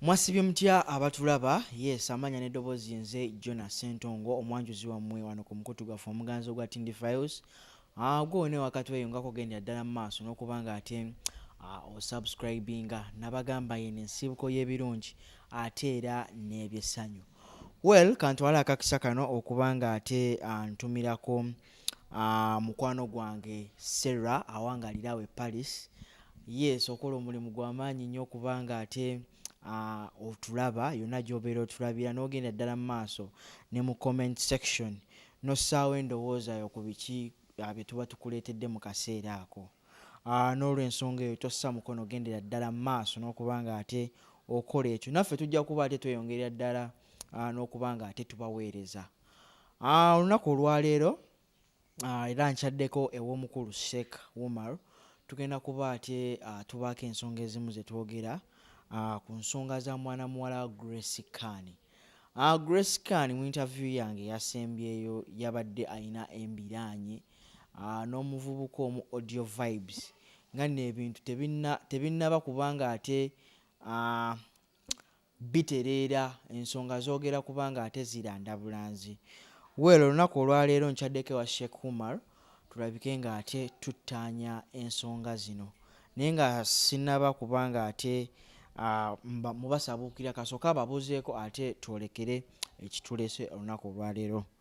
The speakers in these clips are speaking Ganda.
Mwasibye mutya abatulaba? Yes, amanya ne dobozi yenze Jonah Sentongo omwanjuzi wamwe wano ku mukutu gwaffe omuganzi ogwa Tindi Files. Ah, gwe wone wakati weyo ngako gendera ddala mu maaso n'okubanga ate ah, osubscribinga nabagamba yene ensibuko y'ebirungi ate era n'ebyessanyu. Well, kantwala akakisa kano okubanga ate ah, ntumirako Ah, mukwano gwange Sarah awangalira awo e Paris. Yes, okola omulimu gwa maanyi nnyo kubanga ate ah, otulaba yonna gy'obeera otulabira n'ogenda ddala mu maaso ne mu comment section n'ossaawo endowooza yo ku biki ah, bye tuba tukuleetedde mu kaseera ako. Ah, n'olw'ensonga eyo tossa mukono gendera ddala mu maaso n'okuba ng'ate okola ekyo. Naffe tujja kuba ate tweyongerera ddala ah, n'okuba ng'ate tubaweereza. Ah, olunaku olwaleero ah, era nkyaddeko ew'omukulu Sheikh Umar tugenda kuba ate ah, tubaako ensonga ezimu ze twogera ah, ku nsonga za mwana muwala wa Grace Khan. Ah, Grace Khan mu interview yange yasembyeyo yabadde alina embiraanye ah, n'omuvubuka omu Audio Vibes nga nno ebintu tebinna- tebinnaba kubanga ate ah, Bitereera, ensonga zogera kubanga ate ziranda bulanzi. Well olunaku olwaleero nkyaddeko ewa Sheikh Umar tulabike nga ate tuttaanya ensonga zino. Naye nga sinaba kubanga ate uh, mubasabuukira kasooke ababuuzeeko ate twolekere ekitulese olunaku olwaleero.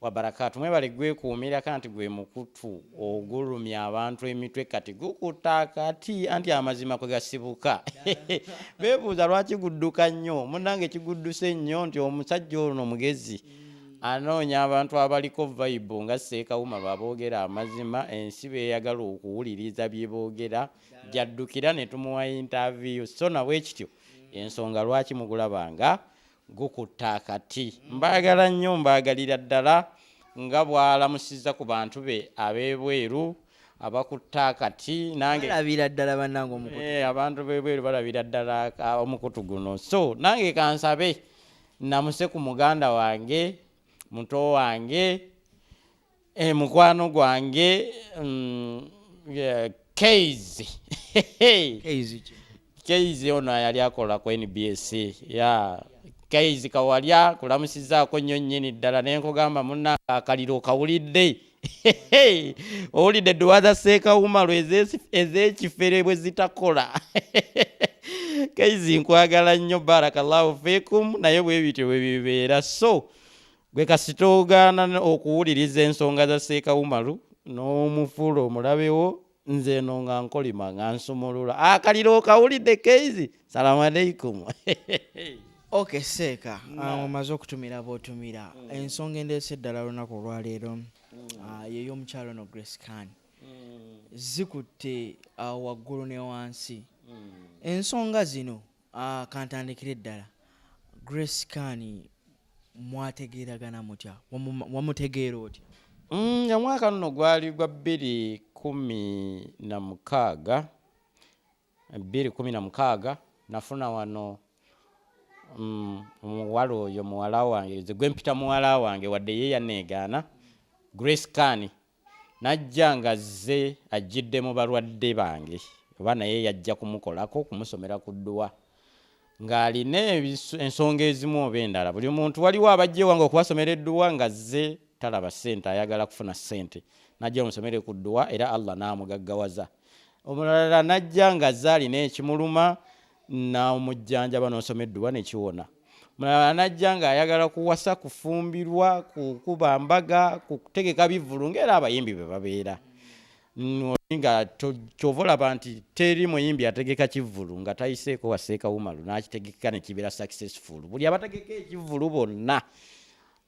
Wabarakatu mwebale gwekuumira kanti gwe mukutu ogulumya abantu emitwe kati gukuta kati anti amazima kwe gasibuka bebuuza lwaki gudduka nnyo munange kigudduse nnyo nti omusajja ono mugezi anoonya abantu abaliko vibe nga seekawuma baboogera amazima ensi beyagala okuwuliriza bye boogera gyaddukira ne tumuwa intaviyu so nabwekityo ensonga lwaki mugulabanga gukutta akati mbaagala nnyo mbaagalira ddala nga bwalamusizza ku bantu be ab'ebweru abakutte akati nangelabira ddala banange omukutu eh, abantu b'ebweru balabira ddala omukutu guno so nange kansabe namuse ku muganda wange muto wange Eh, mukwano gwange mm, eh, Keizi. Keizi ki? Keizi ono yali akola ku NBS. Ya Keizi kawalya kulamusizaako nnyo nnyini ddala ne nkugamba munnange akaliro kawulidde. Owulidde edduwa za Sseekawumalu eze- ez'ekifere bwe zitakola. Keizi nkwagala nnyo barakallahu fikum naye bwe bityo bwe bibeera so Gwe kasita ogaana okuwuliriza ensonga za Seeka Umaru n'omufuula omulabe wo nze eno nga nkolima nga nsumulula akaliro ah, okawulidde keizi salamu aleikum ok seeka ah, omaze okutumira bwotumira mm. ensonga endeesa eddala lunaku olwaleero mm. ah, yeyomukyalo no grace can mm. zikutte waggulu ne wansi ensonga zino Ah, kantandikire ddala grace kani mwategeeragana mutya Wamu- wamutegeera otya Mm, nga mwaka nno gwali gwa bbiri kumi na mukaaga bbiri kumi na mukaaga nafuna wano mm, omuwala oyo muwala wange nze gwe mpita muwala wange wadde ye yaneegaana grace kani Najja ng'azze ajjidde mu balwadde bange oba naye yajja kumukolako, kumusomera ku dduwa ng'alina ensonga ezimu oba endala. Buli muntu waliwo abajja ewange okubasomera edduwa ng'azze talaba ssente, ayagala kufuna ssente. Najja omusomere ku dduwa era Allah n'amugaggawaza. Omulala najja ng'azze alina ekimuluma n'omujjanjaba n'osoma edduwa ne kiwona mulala n'ajja ng'ayagala kuwasa kufumbirwa kukuba mbaga kutegeka bivvulu ng'era abayimbi be babeera nga kyova olaba nti teri muyimbi ategeka kivvulu nga tayiseeko waseeka wumalu n'akitegeka ne kibeera successful buli abategeka ekivvulu bonna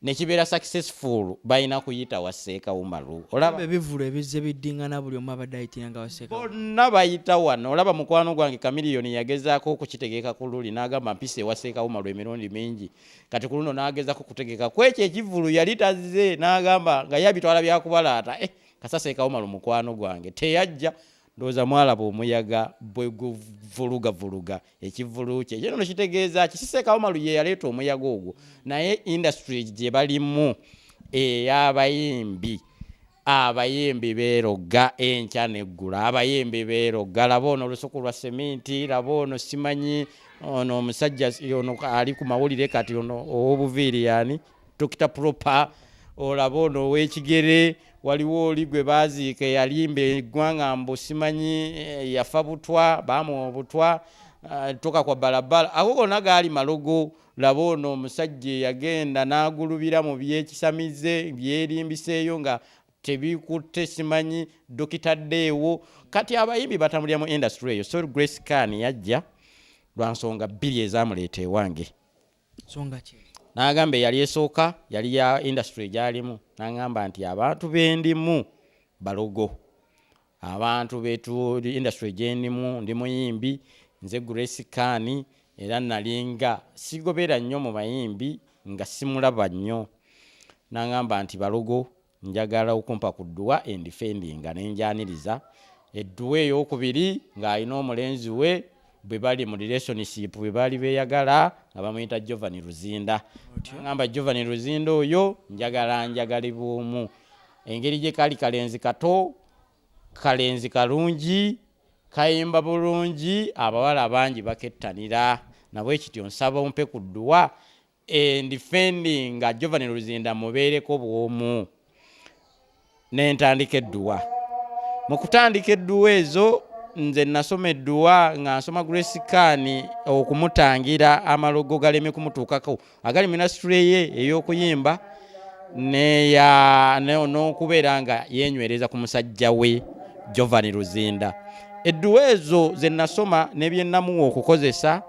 nekibeera successful balina kuyita wa seeka umaru olaba ebivulu ebizze biddingana buli omu abadde ayitira nga waseeka bonna bayita wano olaba mukwano gwange kamiliyoni yagezaako okukitegeka ku luli n'agamba mpisa ewa seeka umaru emirundi mingi kati ku luno n'agezako kutegeka ku ekyo ekivulu yali tazze n'agamba nga yabitwala byakubalaata eh, kasa seeka umaru mukwano gwange teyajja Ndowooza mwalaba omuyaga bwe guvulugavuluga ekivvulu kye. Kino kitegeeza ki? Si Sseekaawa Malu ye yaleeta omuyaga ogwo, naye indasitule gye balimu ey'abayimbi. Abayimbi beerogga enkya n'eggulo, abayimbi beerogga. Laba ono olusuku lwa seminti, laba ono simanyi ono omusajja ono ali ku mawulire kati ono ow'obuviiri y'ani? Dokita Propa olaba ono ow'ekigere waliwo oli gwe baaziika eyalimba eggwanga mbu simanyi eh, yafa butwa baamuwa obutwa eh, toka kwa balabala ago gonna gaali malogo laba ono omusajja eyagenda n'agulubira mu byekisamize byerimbiseeyo nga tebikutte simanyi dokita ddeewo kati abayimbi batambulira mu industry eyo so grace can yajja lwa nsonga bbiri ezamuleeta ewange n'agamba eyali esooka yali ya indasitule gyalimu n'agamba nti abantu bendimu balogo abantu betuli indasitule gyendimu ndi muyimbi nze grace kaani era nalinga sigobeera nnyo mu bayimbi nga simulaba nnyo n'agamba nti balogo Njagala okumpa ku dduwa endifendinga ne ngyaniriza. Edduwa eyookubiri ng'ali n'omulenzi we bwe bali mu relationship bwe baali beeyagala nga bamuyita Jovani Luzinda. Ng'amba Jovani Luzinda oyo njagala anjagale bw'omu. Engeri gye kali kalenzi kato, kalenzi kalungi, kayimba bulungi abawala bangi bakettanira. Na bwe kityo nsaba ompe ku dduwa endifending nga jovani luzinda mubeereko bwomu nentandika edduwa mu kutandika edduwa ezo nze nasoma edduwa nga nsoma gresikaani okumutangira amalogo galeme kumutuukako agali minasitule ye ey'okuyimba neya n'okubeera nga yenywereza ku musajja we jovani luzinda edduwa ezo ze nasoma nebyenamuwa okukozesa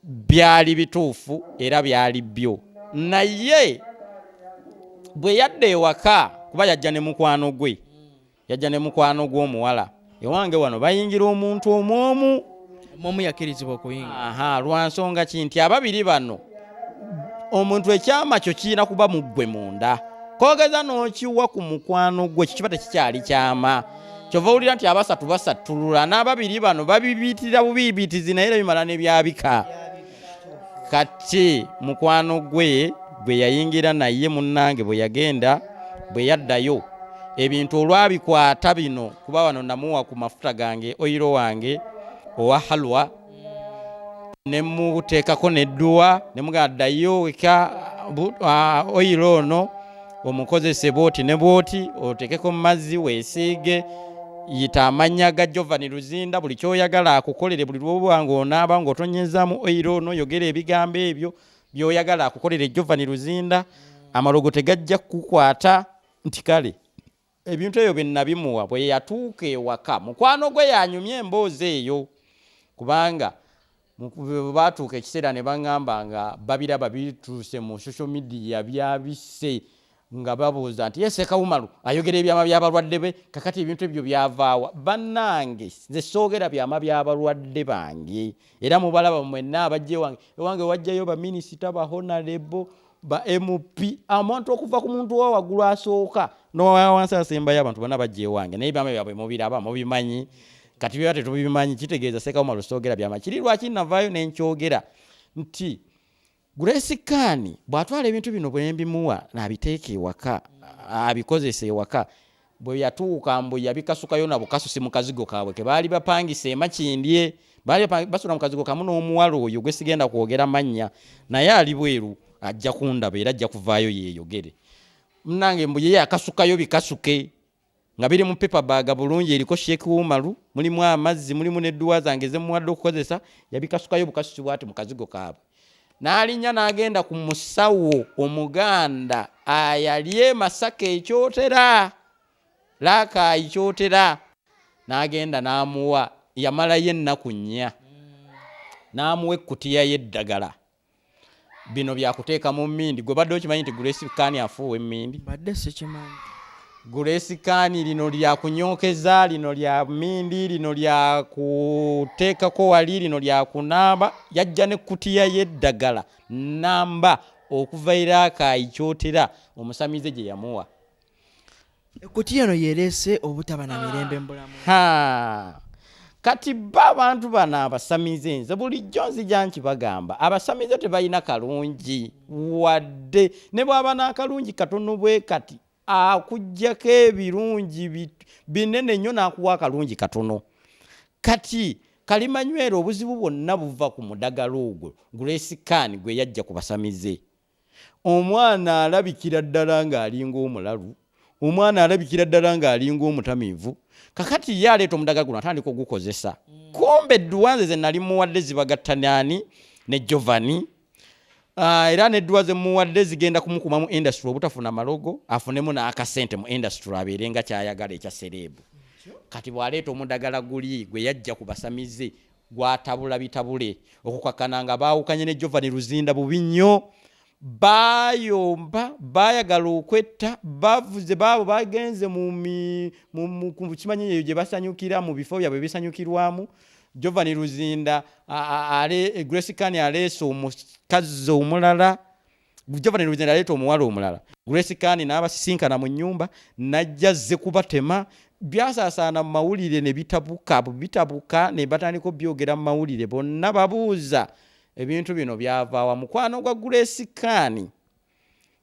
byali bituufu era byali byo naye bwe yadda ewaka kuba yajja ne mukwano gwe yajja ne mukwano gw'omuwala ewange wano bayingira omuntu omu omu omu yakirizibwa okuyingira aha lwa nsonga ki nti ababiri bano omuntu ekyama kyo kirina kuba mu ggwe munda kogeza n'okiwa ku mukwano gwe kikiba tekikyali kyama kyova owulira nti abasatu basattulula n'ababiri bano babibiitira bubiibitizi naye era bimala ne byabika kati mukwano gwe gwe yayingira naye munnange bwe yagenda bwe yaddayo ebintu olwabikwata bino kuba wano namuwa ku mafuta gange oyiro wange owa halwa ne muteekako nedduwa ne mugamba ddayo weka bu- ah, oyiro ono omukozese bwoti ne bwoti oteekeko mu mazzi weesiige yita amannya ga jovani luzinda buli kyoyagala akukolere buli lwoba ng'onaaba ng'otonyeezaamu oyiro ono yogera ebigambo ebyo byoyagala akukolere jovani luzinda amalogo tegajja kukukwata nti kale Ebintu ebyo bye nnabimuwa. Bwe yatuuka ewaka, mukwano gwe y'anyumya emboozi eyo kubanga bwe baatuuka ekiseera ne bang'amba nga babiraba bituuse mu social media byabisse nga babuuza nti ye Ssekawumalu ayogera ebyama by'abalwadde be kakati ebintu ebyo byavaawa? Bannange nze soogera byama by'abalwadde bange era mubalaba mwenna abajja ewange. Ewange wajjayo baminisita, bahonalebo, ba mp amuntu okuva ku muntu wa waggulu asooka nowawansi asembayo abantu bana bajja ewange naye byama byabwe mubiraba mubimanyi kati byaba tetubimanyi kitegeeza sekauma lusoogera byama kiri lwaki navaayo nenkyogera nti grace kaani bw'atwala ebintu bino bwembimuwa nabiteeka ewaka abikozesa ewaka Bwe yatuuka mbu yabikasukayo na bukasusi mu kazigo kaabwe ke baali bapangisa e Makindye. Baali basula mu kazigo kamu n'omuwala oyo gwe sigenda kwogera mannya naye ali bweru ajja kundaba era ajja kuvaayo yeeyogere. Munnange mbu ye yakasukayo bikasuke nga biri mu paper bag bulungi eriko Sheikh Umaru, mulimu amazzi, mulimu n'edduwa zange ze mmuwadde okukozesa. Yabikasukayo bukasusi bw'ati mu kazigo kaabwe. n'alinnya n'agenda ku musawo omuganda ayali e masaka ekyotera laakaayi kyotera n'agenda n'amuwa yamalayo ennaku nnya n'amuwa ekkutiya y'eddagala bino byakuteeka mu mmindi gwe badde okimanyi nti grace kaani afuuwa emmindi badde sikimanyi Grace Khan lino lya kunyokeza, lino lya mindi, lino lya kuteekako wali, lino lya kunaaba. Yajja ne kutiya y'eddagala namba okuva Iraakayi kyotera omusamize gye yamuwa. Ekkutiya eno yereese obutaba na mirembe mu bulamu. Ha! Kati bo abantu bano abasamize nze bulijjo nzija nkibagamba abasamize tebalina kalungi wadde ne bw'aba n'akalungi katono bwe kati akujjako ebirungi binene nnyo n'akuwa akalungi katono kati kalimanywera obuzibu bwonna buva ku mudagala ogwo gresikaani gwe yajja ku basamize omwana alabikira ddala ng'alinga omulalu omwana alabikira ddala ng'alinga omutamiivu kakati ye aleeta omudaga guno atandika ogukozesa mm. kumbe edduwa nze ze nali muwadde zibagattanaani ne jovani Uh, era nedduwa zemuwadde zigenda kumukuma mu industry obutafuna malogo afunemu n'akasente mu industry abeere nga kyayagala ekya sereebu kati bwaleeta omudagala guli gwe yajja ku basamize gwatabula bitabule okukakana nga baawukanye ne jovani luzinda bubi nnyo bayomba bayagala okwetta bavuze baabo bagenze mukimanyi eyo gye basanyukira mu bifo byabwe bisanyukirwamu Jovan Luzinda ale e, Grace Kani aleese omukazi omulala Jovan Luzinda aleeta omuwala omulala Grace Kani n'abasisinkana mu nnyumba najja zze kubatema byasaasaana mu mawulire ne bitabuka bitabuka ne batandika obyogera mu mawulire bonna babuuza ebintu bino byavaawa mukwano gwa Grace Kani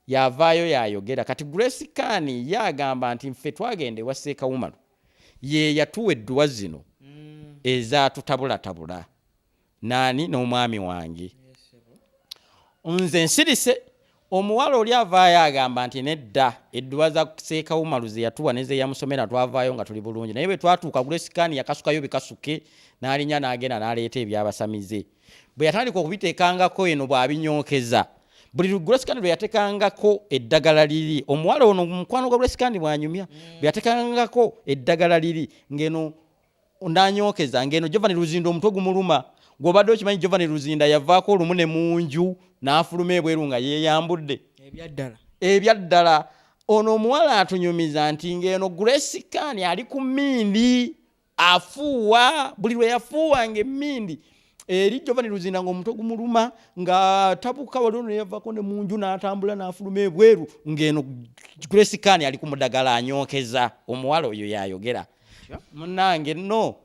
yavaayo yayogera kati Grace Khan ye agamba nti nfe twagenda ewa Seeka Umaru ye yatuwa edduwa zino mm. ezatutabulatabula naani n'omwami wange nze nsirise omuwala oli avaayo agamba nti nedda edduwa za Seeka Umaru ze yatuwa nezeyamusomera twavaayo nga tuli bulungi naye bwe twatuuka Grace Khan yakasukayo bikasuke n'alinya n'agenda n'aleeta ebyabasamize bwe yatandika okubiteekangako eno bw'abinyookeza buli lugulwesikandi lwe yatekangako eddagala liri omuwala ono mukwano gwa lwesikandi bwanyumya mm. bwe yatekangako eddagala liri ng'eno nanyokeza ng'eno jovani luzinda omutwe gumuluma gwobadde okimanyi jovani luzinda yavaako olumu ne mu nju n'afuluma ebweru nga yeeyambudde ebyaddala ebyaddala ono omuwala atunyumiza nti ng'eno gulwesikandi ali ku mindi afuuwa buli lwe yafuuwanga emmindi eri jovani luzinda nga omutwe gumuluma nga tabuka waliwo neyavako ne munju n'atambula n'afuluma ebweru ng'eno grace kani ali ku mudagala anyookeza omuwala oyo yayogera munange no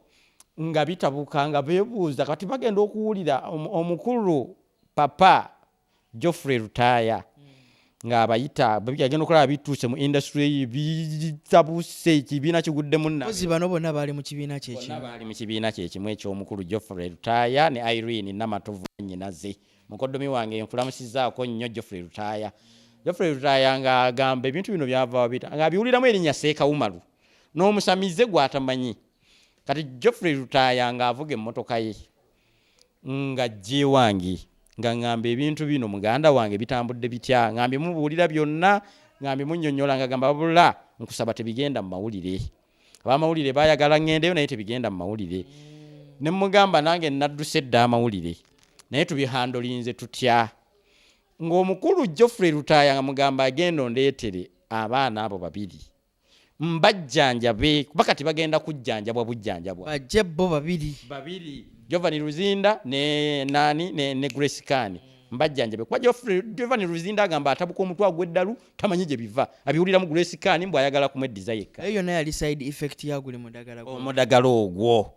nga bitabuka nga bebuuza kati bagenda okuwulira omukulu papa Geoffrey Lutaaya ng'abayita agenda okulaba bituuse mu indasitule ye bitabuse ekibiina kiguddemu nazi bano bonna baali mu kibiina kyekimu baali mu kibiina kyekimu eky'omukulu Geoffrey Lutaaya ne Irene Namatovu nnyinaze mukoddomi wange nkulamusizaako nnyo Geoffrey Lutaaya Geoffrey Lutaaya ng'agamba ebintu bino byava wabita ng'abiwuliramu erinnya Seekawumalu n'omusamize gw'atamanyi kati Geoffrey Lutaaya ng'avuga emmotoka ye nga gyewange nga ngamba ebintu bino muganda wange bitambudde bitya ngambe mubuulira byonna ngambe munyonyola nga gamba bula nkusaba tebigenda mu mawulire abamawulire bayagala ngendeyo naye tebigenda mu mawulire mm. ne mugamba nange nadduse edda amawulire naye tubihandolinze tutya ng'omukulu joffrey lutaaya nga mugamba agenda ondeetere abaana abo babiri mbajjanjabe kuba kati bagenda kujjanjabwa bujjanjabwa bajje bo babiri babiri jovani luzinda ne nani ne, ne grace kani mbajjanjabe kuba jovani luzinda agamba atabuka omutwe agweddalu tamanyi gye biva abiwulira mu grace kani mbw ayagala kumweddiza yekka naye yona yali side effect yaguli mudagala omudagala ogwo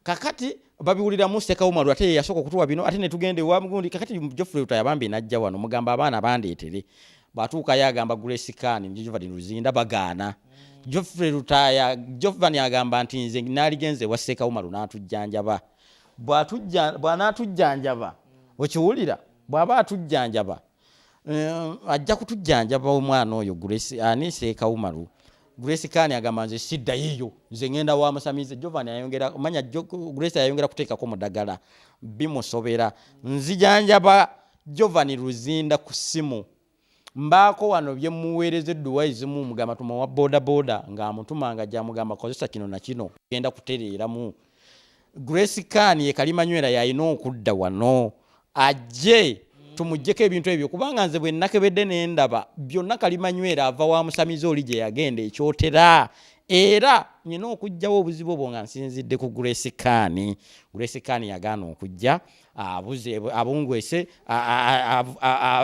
kakati babiwulira mu seka umaru ate yasoko kutuwa bino ate netugende wa mgundi kakati Geoffrey Lutaya bambi najja wano mugamba abaana bandeetere batuuka yagamba Grace Khan Giovanni Luzinda bagaana Geoffrey Lutaya Giovanni agamba nti nze naligenze wa seka umaru natujjanjaba bwatujja bwanatujjanjaba okiwulira bwaba atujjanjaba Eh, ajja kutujjanjaba omwana oyo grace ani seeka umaru grace kani agamba nze siddayo eyo nze ngenda wa musamize jovan ayongera manya grace ayongera kuteekako mudagala bimusobera nzijanjaba jovan luzinda ku ssimu mbaako wano bye muweereza edduwa ezimu mugamba tuma wa bodaboda ng'amutuma nga gyamugamba kozesa kino na kino genda kutereeramu grace kan ye kalimanywera yalina okudda wano ajje tumugyeko ebintu ebyo kubanga nze bwenakebedde nendaba byonna kalimanywera ava wa musamize oli gye yagenda ekyotera era nyina okugjawo obuzibu obwo nga nsinzidde ku grace kan grace kan yagaana okujja abuze abungwese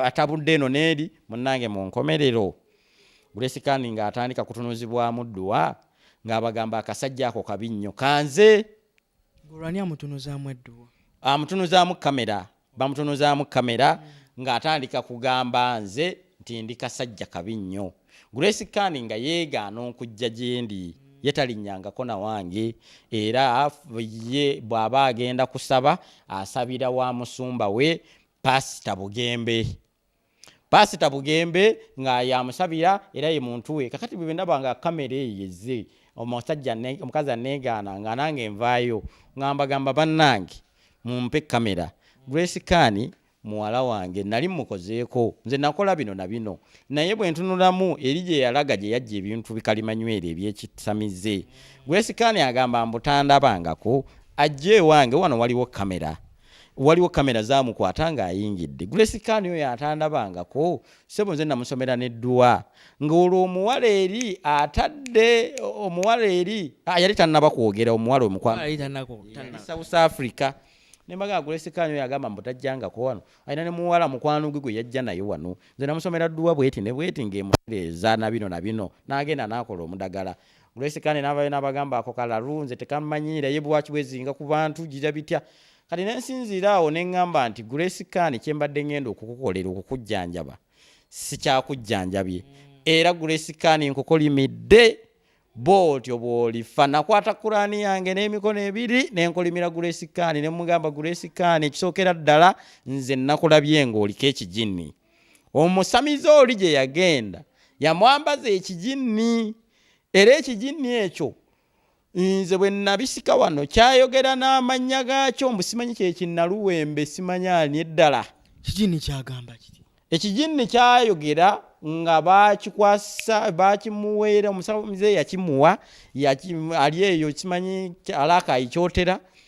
atabudde eno neeri munange munkomerero Gulesikaani ng'atandika kutunuzibwamu dduwa ng'abagamba akasajja ako kabi nnyo kanze. Gulwani amutunuzaamu edduwa? Amutunuzaamu kamera, bamutunuzaamu kamera ng'atandika kugamba nze nti ndi kasajja kabi nnyo. Gulesikaani nga yeegaana okujja gyendi ye talinnyangako na wange era ye bw'aba agenda kusaba asabira wa musumba we Paasita Bugembe. Pasita Bugembe nga yamusabira era ye muntu we kakati bwe ndaba nga kamera eyo yezze omusajja omukazi aneegaana nga nange nvaayo nga mbagamba bannange mumpe kamera Grace Kani muwala wange nali mukozeeko nze nakola bino na bino naye bwe ntunulamu eri gye yalaga gye yajja ebintu bikalimanywere ebyekisamize Grace Kani agamba mbutandabangako ajja ewange wano waliwo kamera waliwo kamera zamukwata ng'ayingidde grace kan oyo atandabangako sebo nze namusomera nedduwa ng'olwo omuwala eri atadde omuwala eri ah, yali tannaba kwogera omuwala omukwanousouth africa nembaga grace kan oyo agamba mbutajjangako wano alina nemuwala mukwano gwe gwe yajja naye wano nze namusomera dduwa bweti ne bweti ng'emutereeza na bino na bino n'agenda n'akola omudagala Grace Kane n'abayo n'abagamba ako kalalu nze tekammanyiira ye bwaki bwezinga ku bantu gira bitya kati ne nsinziira awo ne ŋŋamba nti Grace Kane kye mbadde ŋŋenda okukukolera okukujjanjaba sikyakujjanjabye mm. era Grace Kane nkukolimidde bw'otyo bw'olifa nakwata kuraani yange n'emikono ebiri ne nkolimira Grace Kane ne mmugamba Grace Kane ekisookera ddala nze nnakulabye ng'oliko ekijinni omusamize oli gye yagenda yamwambaza ekiginni era ekiginni ekyo nze bwe nabisika wano kyayogera n'amannya gaakyo mbu simanyi kyekinnaluwembe simanyi ani eddala kiginni kyagamba kiti ekiginni kyayogera nga bakikwasa bakimuweera omusamize yakimuwa ali eyo kimanyi alakaayikyotera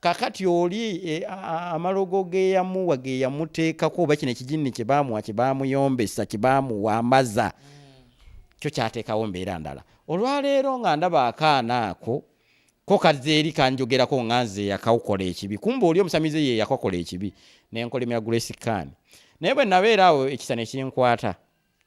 kakati oli e, amalogo geyamuwa geyamuteekako oba kino ekijinni kyebamuwa kyebamuyombesa kyebamuwambaza kyo kyateekawo mbeera ndala olwaleero nga ndaba akaana ako ko kazze eri kanjogerako nga nze yakawukola ekibi kumba oli omusamize ye yakakola ekibi nenkolemera grace kan naye bwe nabeera awo ekisa nekinkwata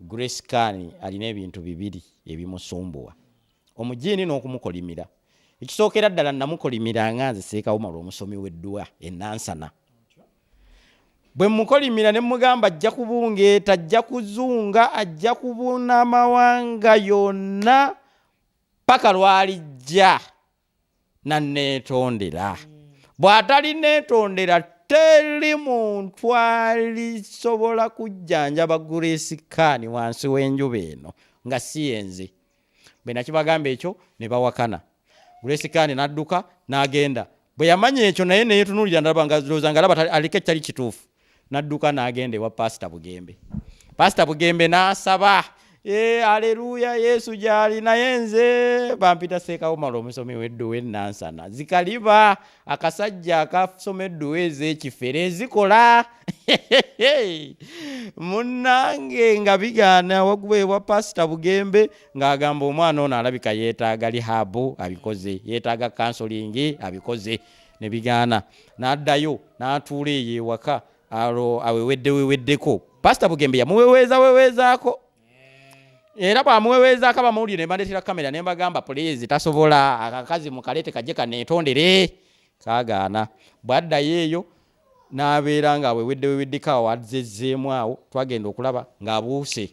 Grace Khan alina ebintu bibiri ebimusumbuwa omujiini n'okumukolimira ekisookera ddala namukolimira nga nze seekawumala omusomi w'eddwa enansana bwe mukolimira ne mugamba ajja kubungeeta ajja kuzunga ajja kubuna amawanga yonna paka lwalijja nanneetondera bw'atalinneetondera teri muntu alisobola kujjanjaba grace kan wansi w'enjuba eno nga si yenze bwe nakibagamba ekyo ne bawakana grace kan n'adduka n'agenda bwe yamanya ekyo naye neyetunuulira ndaba nga looza nga alaba aliko ekitali kituufu nadduka n'agenda ewa paasita bugembe paasita bugembe n'asaba ee eh, aleluya yesu gyali naye nze bampita seekawumala omusomi wedduwa enansana zikaliba akasajja akasoma edduwa ez'ekifere ezikola munnange nga bigaana waguba ewa paasita bugembe ng'agamba omwana ono alabika yeetaaga lihabu abikoze yeetaaga kansolingi abikoze ne bigaana n'addayo n'atuula eyo ewaka alo awewedde weweddeko pasita bugembe yamuweweeza weweezaako era bwamuweweezaako abamawulire ne bandeetera kamera ne mbagamba puliizi tasobola akakazi mukaleete kajje kaneetondere kaagaana bwaddayo eyo n'abeera nga awewedde weweddeko awo azezzeemu awo twagenda okulaba ng'abuuse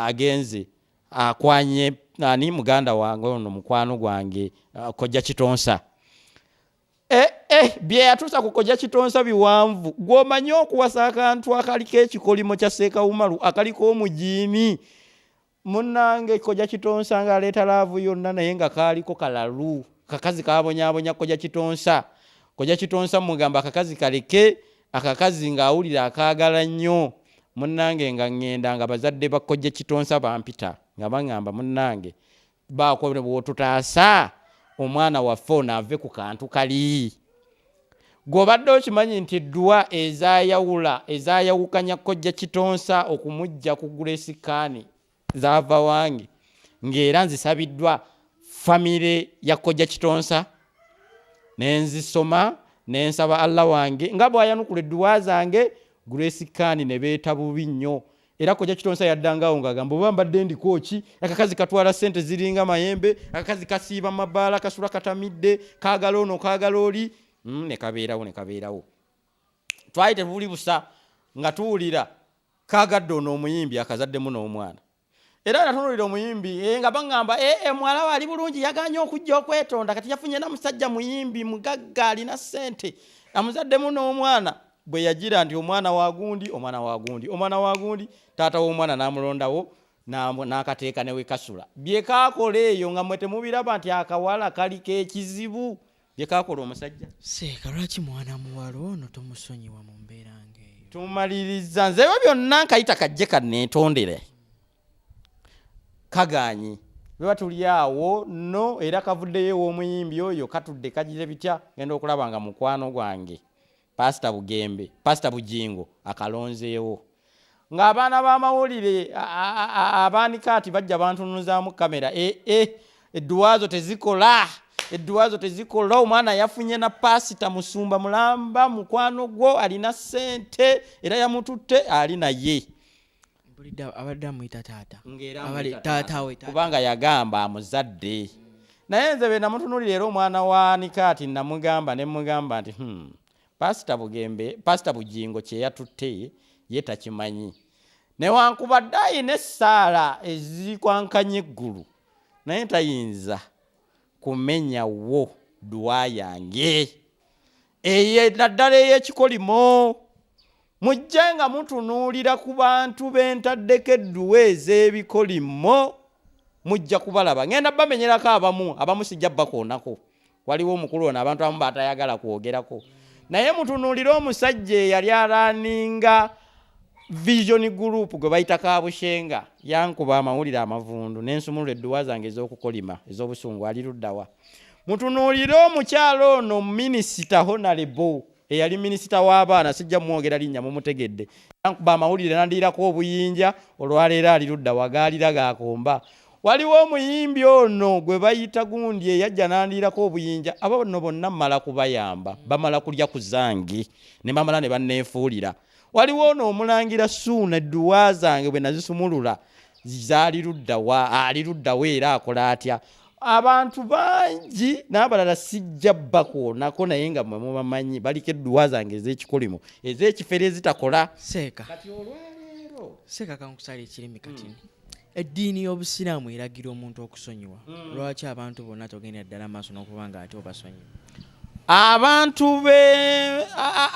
agenze Akwanye ani muganda wange ono mukwano gwange uh, kojja kitonsa eh, eh, byeyatuusa ku kojja kitonsa biwanvu gwomanyi okuwasa akantu akaliko ekikolimo kya seekawumalu akaliko omujiimi munange kojja kitonsa nga aleeta laavu yonna naye nga kaaliko kalalu kakazi kabonyabonya kojja kitonsa kojja kitonsa mugamba akakazi kaleke akakazi ng'awulira akaagala nnyo munnange nga ŋŋenda nga bazadde ba kojja kitonsa bampita nga baŋŋamba munnange baako bwotutaasa omwana waffe ono ave ku kantu kali gw'obadde okimanyi nti eddwa ezayawula ezayawukanya kojja kitonsa okumujja ku gulesikaani zaava wange ng'era nzisabiddwa famire ya kojja kitonsa ne nzisoma ne nsaba allah wange nga bw'ayanukula edduwa zange grace kani ne beeta bubi nnyo era kojja kitonsa yaddangawo ng'agamba oba mbadde ndiko ki akakazi katwala ssente ziringa mayembe akakazi kasiiba mabaala kasula katamidde kaagala ono kaagala oli mm, ne kabeerawo ne kabeerawo twali tebuli busa nga tuwulira Kaagadde ono omuyimbi akazaddemu n'omwana era natunuulira omuyimbi eh, nga baŋŋamba eh, eh, muwala we ali bulungi yaganye okujja okwetonda kati yafunye na musajja muyimbi mugagga alina ssente amuzaddemu n'omwana bwe yagira nti omwana wagundi omwana wagundi omwana wagundi taata w'omwana n'amulondawo n'akateeka newekasula byekaakola eyo nga mwe temubiraba nti akawala kaliko ekizibu byekakola omusajja seeka lwaki mwana muwala ono tomusonyiwa mu mbeera ngaeyo tumaliriza nzeyo byonna nkayita kajje kanetondere kaganyi beba tuli awo no era kavuddeyo ew'omuyimbi oyo katudde kagira bitya genda okulaba nga mukwano gwange pasita bugembe pasita bujingo akalonzeewo ng'abaana b'amawulire abaanika ati bajja bantunuzaamu kamera e e edduwaazo tezikola edduwaazo tezikola omwana yafunye na pasita musumba mulamba mukwano gwo alina ssente era yamututte ali naye kubanga yagamba amuzadde naye nze be namutunulira era omwana wa nikaati namugamba ne mugamba nti hmm, pasita bugembe pasita bugingo kyeyatutte ye takimanyi newankubadde ayina essaala ezikwankanya eggulu naye tayinza kumenya wo dduwa yange eye naddala ey'ekikolimo mujje nga mutunuulira ku bantu be ntaddeko edduwa ez'ebikolimo mujja kubalaba ngenda bamenyerako abamu abamu sijja bakoonako waliwo omukulu ono abantu abamu batayagala kwogerako naye mutunuulire omusajja eyali alaaninga vision group gwe bayita kabushenga yankuba amawulire amavundu nensumulula edduwa zange ez'okukolima ez'obusungu ali luddawa mutunuulire omukyalo ono minisita honalebo eyali minisita w'abaana sijja mwogera linnya mumutegedde yankuba amawulire nandiirako obuyinja olwaleero ali ludda wagaalira gaakomba waliwo omuyimbi ono gwe bayita gundi eyajja nandiirako obuyinja aba bano bonna mala kubayamba bamala kulya ku zange ne bamala ne banneefuulira waliwo ono omulangira suuna edduwa zange bwe nazisumulula zaali luddawa ali luddawa era akola atya abantu bangi n'abalala sijja bakwonako naye nga mwe mubamanyi baliko edduwa zange ez'ekikolimo ez'ekifere ezitakola seeka kati olwaleero seeka kankusala ekirimi kati mm. eddiini y'obusiraamu eragira omuntu okusonyiwa mm. lwaki abantu bonna togendera ddala maaso n'okuba nga ate obasonyiwa abantu be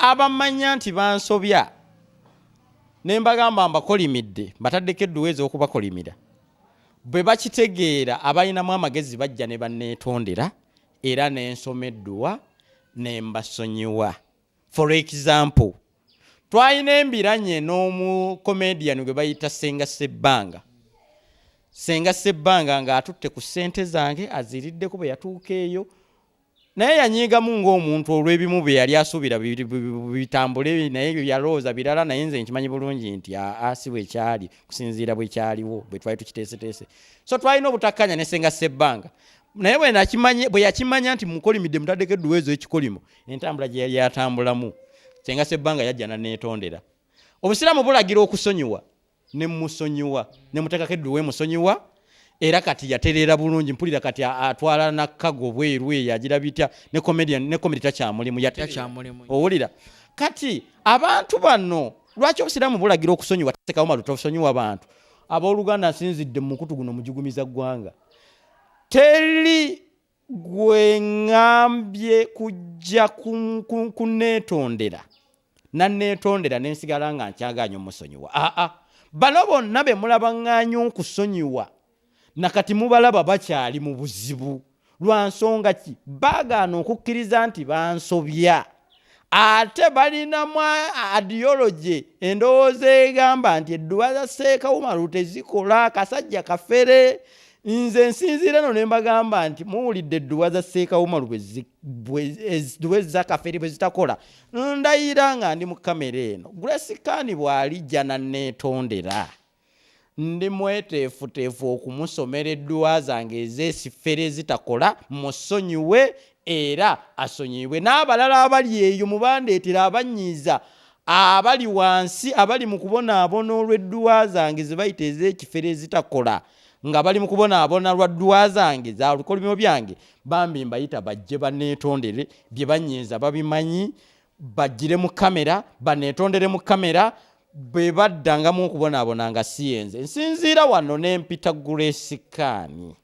abamanya nti bansobya ne mbagamba mbakolimidde mbataddeko edduwa ez'okubakolimira bwe bakitegeera abalinamu amagezi bajja ne banneetondera era ne nsoma edduwa ne mbasonyiwa For example, twalina embiranye n'omu comedian gwe bayita Senga Sebbanga. Senga Sebbanga ng'atutte ku ssente zange aziriddeko bwe yatuuka eyo naye yanyiigamu ng'omuntu olw'ebimu bye yali asuubira bitambule naye yalowooza birala naye nze nkimanyi bulungi nti aa si bwe kyali kusinziira bwe kyaliwo bwe twali tukiteeseteese so twalina obutakkanya ne senga sebbanga naye bwe yakimanya nti mukolimidde mutaddeko edduweezo ekikolimo entambula gye yali atambulamu senga sebbanga yajja naneetondera obusiraamu bulagira okusonyiwa ne musonyiwa ne muteekako eddu we musonyiwa era kati yatereera bulungi mpulira kati atwala nakago bweru eyo agira bitya ne comedian ne comedy takyamulimu yatakyamulimu owulira kati abantu bano lwaki obusiraamu bulagira okusonyiwa tasekawo malu tosonyiwa bantu abooluganda nsinzidde mu mukutu guno mujigumiza ggwanga teri gwe ŋŋambye kujja ku- ku- kunneetondera nanneetondera ne nsigala nga nkyagaanye omusonyiwa aa bano bonna be mulabaŋŋaanya okusonyiwa nakati mubalaba bakyali mu buzibu lwa nsonga ki baagaana okukkiriza nti bansobya ate balinamu adiyology endowooza egamba nti edduwa za seekawumalu tezikola kasajja kafere nze nsinziira no ne mbagamba nti muwulidde edduwa za seekawumalu edduwa ezakafere bwe zitakola ndayira nga ndi mu kamera eno grace kani bw'alijja nanneetondera Ndi mweteefuteefu okumusomera edduwa zange ez'esifere ezitakola, mmusonyiwe era asonyiyibwe n'abalala abali eyo mu bandeetera abannyiiza abali wansi abali mu kubonaabona olw'edduwa zange ze bayita ez'ekifere ezitakola, nga bali mu kubonaabona lwa dduwa zange za bikolimo byange, bambi mbayita bajje banneetondere, bye bannyiiza babimanyi, bajjire mu kkamera, banneetondere mu kkamera, bwe baddangamu okubonaabona nga si yenze nsinziira wano ne mpita gulesikaani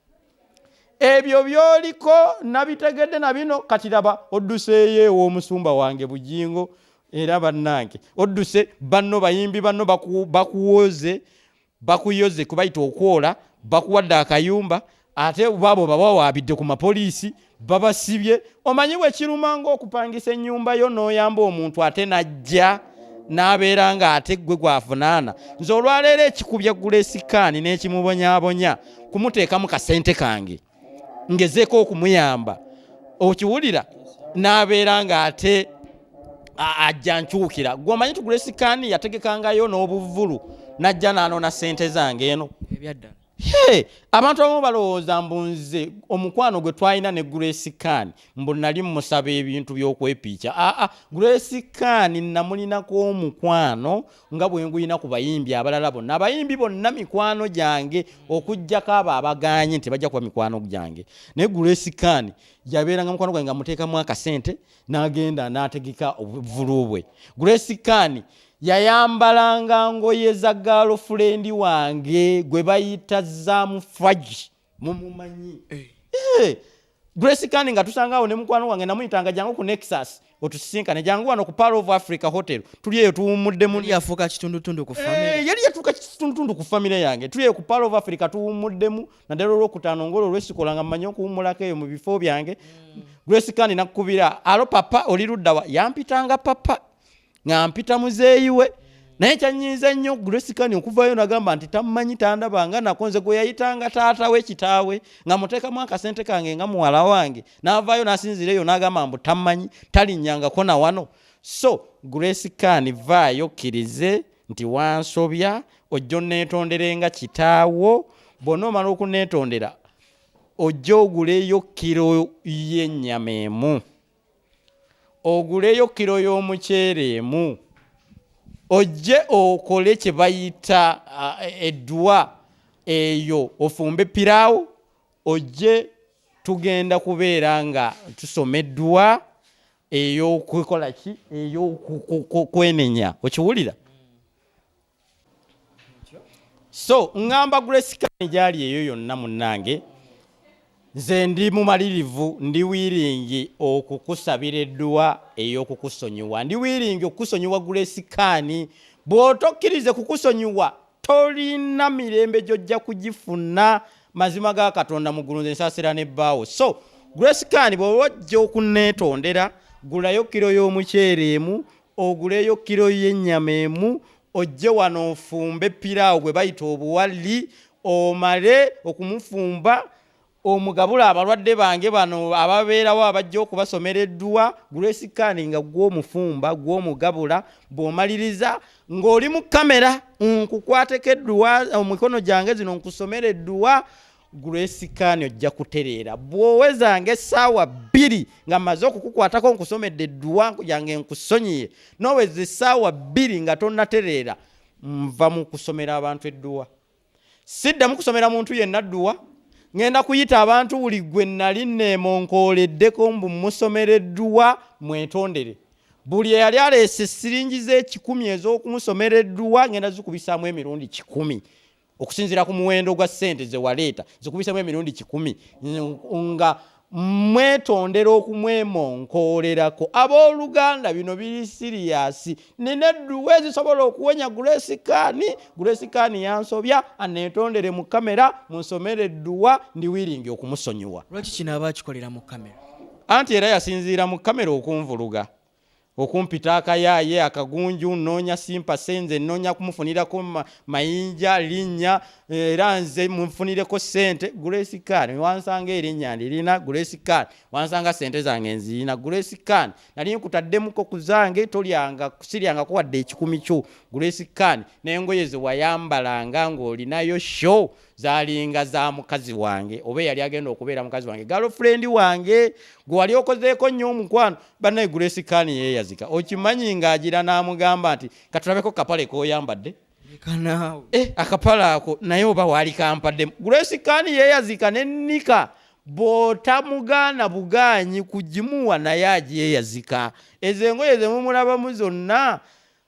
ebyo byoliko nabitegedde na bino kati laba odduseeyo ew'omusumba wange bugingo era bannange odduse banno bayimbi banno bakuwooze bakuyoze kubayita okwola bakuwadde akayumba ate baabo babawaabidde ku mapoliisi babasibye omanyi bwekiruma ngaokupangisa ennyumba yo n'oyamba omuntu ate najja n'abeera nga ate ggwe gwavunaana nze olwaleero ekikubya gulesikaani n'ekimubonyabonya kumuteekamu kasente kange ngezeeko okumuyamba okiwulira n'abeera ng'ate ajja nkyukira gwe omanyi tugula esikaani yategekangayo n'obuvulu najja n'anoona ssente zange eno ebyaddala Hey, abantu abamu balowooza mbu nze omukwano gwe twalina ne grace kan mbu nali mumusaba ebintu byokwepiica aa ah, ah, grace kan namulinako omukwano nga bwe nguyina ku bayimbi abalala bonna abayimbi bonna mikwano gyange okuggyako abo abagaanye nti bajja kuba mikwano gyange naye gulesikaani yabeeranga mukwano gwange nga muteekamu akasente n'agenda n'ategeka obuvulu bwe gulesikaani yayambalanga ngoye za gaalofulendi wange gwe bayita zaamu fagi mumumanyi eh. Eh, grace kandi nga tusangaawo ne mukwano wange namuyitanga jangu ku nexus otusisinkane jangu wano ku pal of africa hotel tuli eyo tuwummuddemuyaliyafuuka kitundutundu ku famire yange tuli eyo ku pal of africa tuwummuddemu naddala olwokutaano ngaolwo olwesikola nga mmanyi okuwummulako eyo mu bifo byange mm. grace kandi nakukubira alo papa oli luddawa yampitanga papa nga mpita muzeeyi we naye kyanyiiza nnyo grace kani okuvayo nagamba nti tammanyi tandaba nga nako nze gwe yayitanga taata we kitaawe nga muteekamu akasente kange nga muwala wange n'avaayo n'asinziira eyo n'agamba mbu tammanyi talinnyangako na wano so grace kani vaayo kkirize nti wansobya ojja onneetondere nga kitaawo bwonna omala okunneetondera ojja oguleyo kkiro y'ennyama emu oguleyo kiro y'omuceere emu ojje okole kye bayita edduwa eyo ofumbe piraawo ojje tugenda kubeera nga tusoma edduwa ey'okukola ki ey'okwenenya okiwulira so ngamba grace kani gyali eyo yonna munnange nze ndi mumalirivu ndi wiringi okukusabira edduwa ey'okukusonyiwa ndi wiringi okukusonyiwa grace kani bw'otokkirize kukusonyiwa tolina mirembe gyojja kugifuna mazima ga katonda mu ggulu nze nsaasira ne bbaawo so grace kani bw'oba ojja okuneetondera gulayo kiro y'omuceere emu oguleyo kilo y'ennyama emu ojje wano ofumbe piraawo gwe bayita obuwalli omale okumufumba omugabule abalwadde bange bano ababeerawo abajja okubasomera edduwa grace kani nga gw'omufumba gw'omugabula bw'omaliriza ng'oli mu kamera nkukwateko edduwa omikono gyange zino nkusomera edduwa Grace Kani ojja kutereera bw'owezanga essaawa bbiri nga mmaze okukukwatako nkusomedde edduwa nkujange nkusonyiye n'oweza essaawa bbiri nga tonnatereera nva mu kusomera abantu edduwa siddamu kusomera muntu yenna dduwa ŋenda kuyita abantu buli gwe nali neemonkooleddeko mbu musomera edduwa mwetondere buli eyali aleese siringi z'ekikumi ez'okumusomera edduwa ŋenda zikubisaamu emirundi kikumi okusinziira ku muwendo gwa ssente ze waleeta zikubisemu emirundi kikumi nga mwetondera okumwemonkoolerako abooluganda bino biri siriyasi nina edduwa ezisobola okuwonya gulesikaani gulesikaani yansobya aneetondere mu kamera munsomere edduwa ndi wiringi okumusonyiwa lwaki kino aba akikolera mu kamera anti era yasinziira mu kamera okunvuluga okumpita akayaaye akagunju nnoonya simpase nze nnoonya kumufunirako mayinja linnya eh, era nze munfunireko ssente grace can wansanga erinnya ndirina grace can wansanga ssente zange nzirina grace can nali nkutaddemuko ku zange tolyanga siryangako wadde ekikumi kyo grace can n'engoye ze wayambalanga ng'olinayo show zalinga za mukazi wange oba eyali agenda okubeera mukazi wange galofrendi wange gwe wali okozeeko nnyo omukwano banaye grace kani yeyazika okimanyi ng'agira n'amugamba nti katulabeko kapale koyambadde eh, akapale ako naye oba waali kampaddemu grace kani yeyazika ne nika bwotamugaana bugaanyi kugimuwa naye agyeyazika ezo engoye zemumulabamu zonna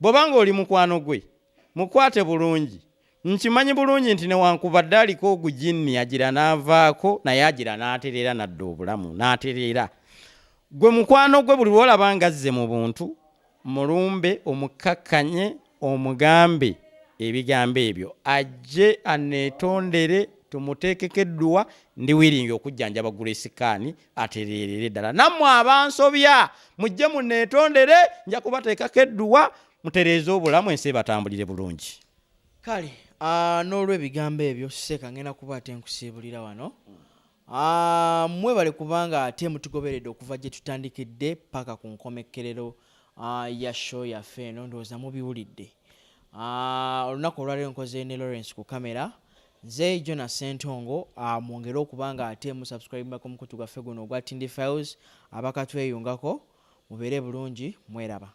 Bw'oba ng'oli mukwano gwe, mukwate bulungi. Nkimanyi bulungi nti newankubadde aliko ogujinni agira n'avaako naye agira n'atereera n'adda obulamu, n'atereera. Ggwe mukwano gwe buli lw'olaba ng'azze mu buntu, mulumbe omukkakkanye omugambe ebigambo ebyo ajje anneetondere tumuteekeko edduwa ndi wiringi okujjanjaba Grace Khan atereerere ddala nammwe abansobya mujje muneetondere nja kubateekako edduwa mutereeze obulamu ensi ebatambulire bulungi kale ah, n'olwebigambo ebyo seeka ngenda kuba ate nkusiibulira wano ah, mwebale kubanga ate mutugoberedde okuva gye tutandikidde paka ku nkomekkerero ah, ya show yaffe eno ndowooza mubiwulidde olunaku olwaliro nkoze ne lawrence ku kamera Nze Jonah Ssentongo, aah mwongere okuba nga ate mu subscribinga ku mukutu gwaffe guno ogwa Tindi Files, abakatweyungako mubeere bulungi mweraba.